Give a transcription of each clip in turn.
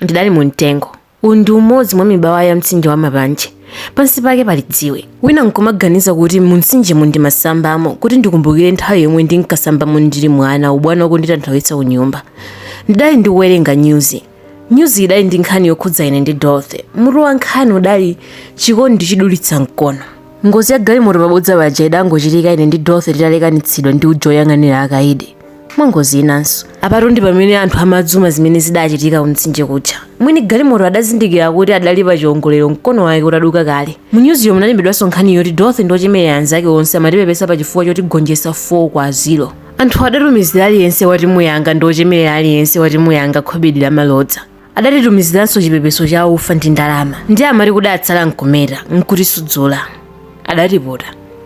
ndidali mu mtengo uwu ndi umodzi mwa mibawa ya mtsinje wa mapanje pansi pake pali dziwe wina nkumaganiza kuti mu mtsinjemu ndimasambamo kuti ndikumbukire nthawi yomwe ndinkasambamo ndili mwana ubwana wakunditanthawitsa ku nyumba ndidali ndikuwerenga nyuzi nyuzi idali ndi nkhani yokhudza ine ndi dorothy mutu wa nkhani udali chikondi chidulitsa mkono ngozi ya galimoto pabodza paja idangochitika ine ndi dorothy titalekanitsidwa ndi uja woyang'anira akaidi mwa ngozi inanso apatu ndi pamene anthu amadzuma zimene zidachitika kumtsinje kuja mwini galimoto adazindikira kuti adali pa chiongolero mkono wake utaduka kale munyuziyo munalembedwanso nkhani yoti dorothy ndi ochemerera anzake onse amatipepesa pa chifukwa chotigonjetsa 4 kwa 0 anthu adatumizira aliyense wa timu yanga ndi ochemerera aliyense wa timu yanga khobidi lamalodza adatitumiziranso chipepeso cha ufa ndi ndalama ndi amati kudatsala nkumeta nkutisudzola adatiputa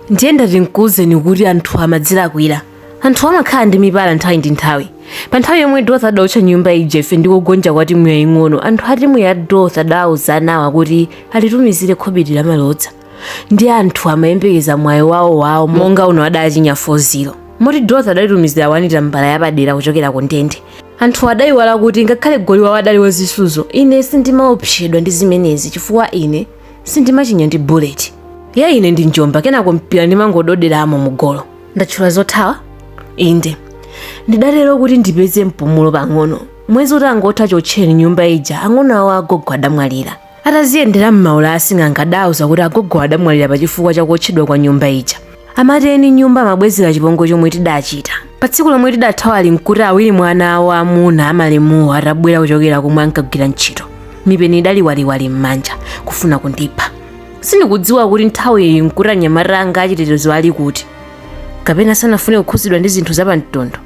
ndiye ndati nkuwuzeni kuti anthu amadzilakwira anthu amakhala ndi mipala nthawi ndi nthawi pa nthawi yomwe dorothy adaotcha nyumba ija ife ndi kugonja kwa timu yaying'ono anthu a timu ya dorothy adawuza anawa kuti alitumizire khobidi lamalodza ndi anthu amayembekeza mwayi wawo wawo monga uno adachinya 4-0 moti dorothy adalitumizira wanita mbala yapadera kuchokera ku ndende anthu adayiwala kuti ngakhale goli wawo adali wazisuzo ine sindimaopsedwa ndi zimenezi chifukwa ine sindimachinya ndi bullet ya ine ndi njomba kenako mpira ndimangododeramo mu golo ndatchula zothawa inde ndidatero kuti ndipeze mpumulo pang'ono mwezi utangotha chotcheni nyumba ija ang'ono awo agogo adamwalira ataziyendera m'maula asing'anga adauza kuti agogo adamwalira pa chifukwa cha kuotchedwa kwa nyumba ija amati eni nyumba amabwezera chipongwe chomwe tidachita pa tsiku lomwe tidathawa ali mkuti awiri mwa ana awo amuna amalemuwo atabwera kuchokera komwe ankagwira ntchito mipeni idali waliwali m'manja kufuna kundipha sindikudziwa kuti nthawi iyi mkuti anyamata anga achitetezo ali kuti kapena sanafune kukhuzidwa ndi zinthu zapamtundu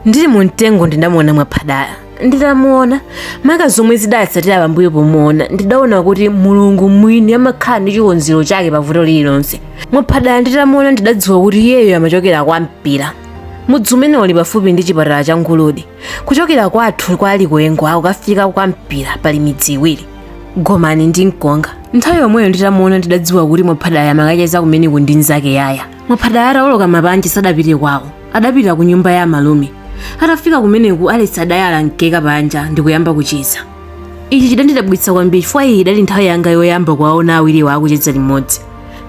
ndili mu mtengo ndidamuona mwaphadala nditamuona maka zomwe zidatsatira pambuyo pomuona ndidaona kuti mulungu mwini amakhala ndi chikonzero chake pa vuto lililonse mwaphadala nditamuona ndidadziwa kuti iyeyo amachokera kwa mpira mudzi umene uli pafupi ndi chipatala cha nguludi kuchokera kwathu kwa likuyengo kukafika kwa mpira pali midzi iwiri gomani ndi mkonga nthawi yomweyo nditamuona ndidadziwa kuti mwaphadala amakacheza kumeneku ndi nzake yaya mwaphadala atawoloka mapanje sadapite kwawo Adapita kunyumba ya amalume. Atafika kumeneku, Alesi adayala mkeka panja ndi kuyamba kucheza. Ichi chidandidabwitsa kwambiri chifukwa iyi idali nthawi yanga yoyamba kuwaona awiriwa akucheza limodzi.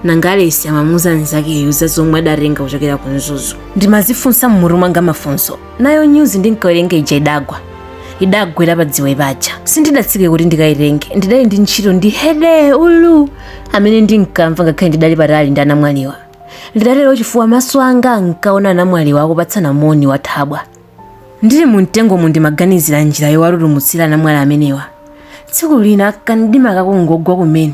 Nanga Alesi amamuuza nzakeyu za zomwe adatenga kuchokera ku Mzuzu. Ndimadzifunsa m'mutu mwanga mafunso. Nayo nyuzi ndinkawerenga ija idagwa. Idagwera pa dziwe paja. Sindidatsike kuti ndikayitenge. Ndidali ndi ntchito ndi hede ulu amene ndinkamva ngakhale ndidali patali ndi anamwaliwa. Ndidatero chifukwa maso anga ankaona anamwaliwo akupatsana moni wathabwa. Ndili mu mtengomo ndimaganizira njira yowatutumutsira anamwali amenewa. Tsiku lina kamdima kakungogwa kumene,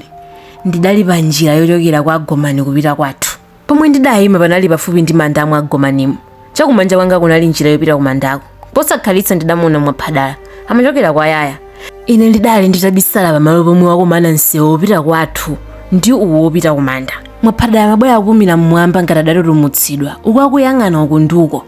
ndidali pa njira yochokera kwa Gomani kupita kwathu. Pomwe ndidayima panali pafupi ndi manda a mwa Gomanimu. Chakumanja kwanga kunali njira yopita kumandako. Posakhalitsa ndidamuona Mwaphadala. Amachokera kwa Yaya. Ine ndidali nditabisala pamalo pomwe wakumana msewu wopita kwathu ndi uwo wopita kumanda. Mwaphadala amabwera akupumira mmwamba ngati adatutumutsidwa, uku akuyang'ana uku ndi uko.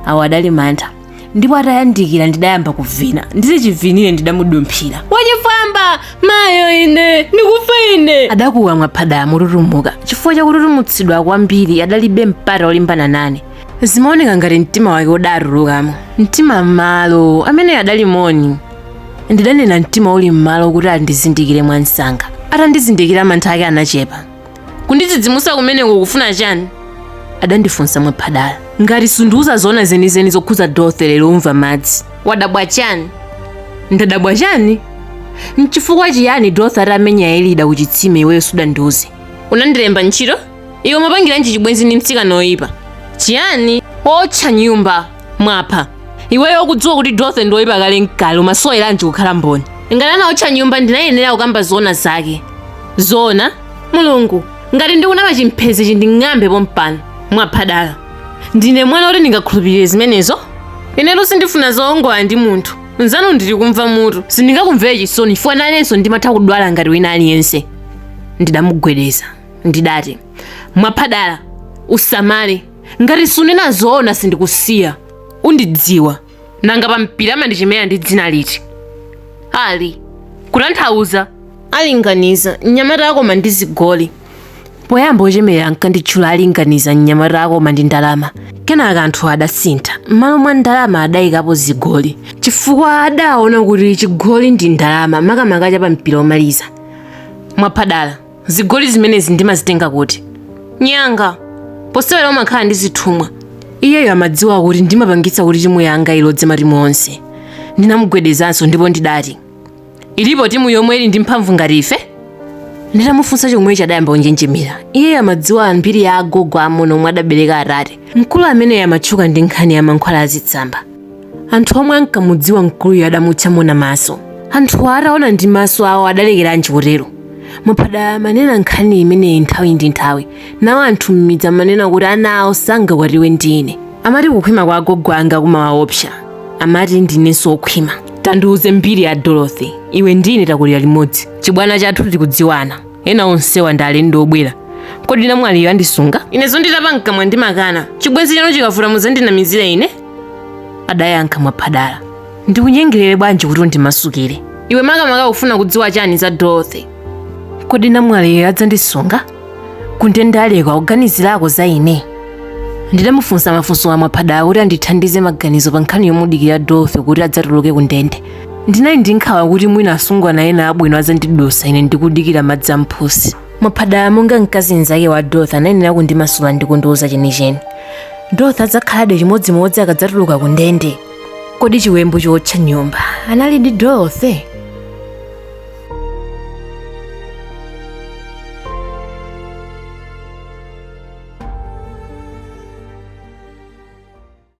Awo adali mantha. ndipo atayandikira ndidayamba kuvina ndili chivinire ndidamudumphira wachifwamba mayo ine ndikufa ine adakuwa mwaphadala motutumuka chifukwa chakututumutsidwa kwambiri adalibe mpata olimbana nane zimaoneka ngati mtima wake udatulukamo mtima m'malo amene adali moni ndidanena mtima uli m'malo kuti andizindikire mwamsanga atandizindikira mantha ake anachepa kundidzidzimutsa kumeneko ukufuna chani adandifunsa mwaphadala ngati sundiuza zoona zenizeni zokhudza dorothy lero umva madzi wadabwa chani ndadabwa chani nchifukwa chiyani dorothy atamenya elida kuchitsime iweyo sudandiuze unandilemba ntchito iwe mapangiranji chibwenzi ndi mtsikana oyipa chiyani otcha nyumba mwapha iweyo ukudziwa kuti dorothy ndi woyipa kale nkale umasoweranji kukhala mboni ngati anaotcha nyumba ndinayenera kukamba zoona zake zoona mulungu ngati ndikunama chimphezi chinding'ambe pompano mwaphadala ndine mwana oti ndingakhulupirire zimenezo inetu sindifuna zoongola ndi munthu mzanu ndili kumva mutu sindingakumvere chisoni chifukwa nanenso ndimatha kudwala ngati wina aliyense ndidamugwedeza ndidati mwaphadala usamale ngati sunena zoona sindikusiya undidziwa nanga pa mpira amandichemerera ndi dzina liti ali kutanthauza alinganiza mnyamata akoma ndi zigoli poyamba ochemerera ankanditchula alinganiza mnyamata akoma ndi ndalama kenaka anthu adasintha m'malo mwa ndalama adayikapo zigoli chifukwa adaona kuti chigoli ndi ndalama makamaka cha pa mpira omaliza mwaphadala zigoli zimenezi ndimazitenga kuti nyanga posewera umakhala ndi zithumwa iyeyo amadziwa kuti ndimapangitsa kuti timu yanga ilodze matimu onse ndinamugwedezanso ndipo ndidati ilipo timu yomwe ili ndi mphamvu ngati ife nditamufunsa chomwecho adayamba kunjenjemera iyeyo amadziwa mbiri ya agogo amuna omwe adabereka atate mkulu ameneyo amatchuka ndi nkhani ya mankhwala azitsamba anthu omwe ankamudziwa mkuluyo adamutcha mona maso anthuwo ataona ndi maso awo adalekeranji kutero Mwaphadala amanena nkhani imeneyi nthawi ndi nthawi nawo anthu m'midzi amanena kuti ana awo sangakwatiwe ndi ine amati kukhwima kwa agogo anga kumawaopsa amati ndinenso wokhwima tandiuze mbiri ya dorothy iwe ndi ine takulira limodzi chibwana chathu tikudziwana ena onsewa ndi alendo obwera kodi namwaliyo andisunga inezo nditapa mkamwa ndimakana chibwenzi chanu chikavuta muzandinamizira ine adayankha mwaphadala ndikunyengerere bwanji kuti undimasukire iwe makamaka ufuna kudziwa chani za dorothy kodi namwaliyo adzandisunga kundende aleka kuganizirako za ine ndidamufunsa mafunsowa mwaphadala kuti andithandize maganizo pa nkhani yomudikira dorothy kuti adzatuluke kundende ndinali ndi nkhawa kuti mwina asungwana ena abwino adzandidusa ine ndikudikira madzi amphusi mwaphadala monga mkazi mnzake wa dorothy anayenera kundimasula ndi kundiuza chenicheni dorothy adzakhaladi chimodzimodzi akadzatuluka ku ndende kodi chiwembu chootcha nyumba analidi dorothy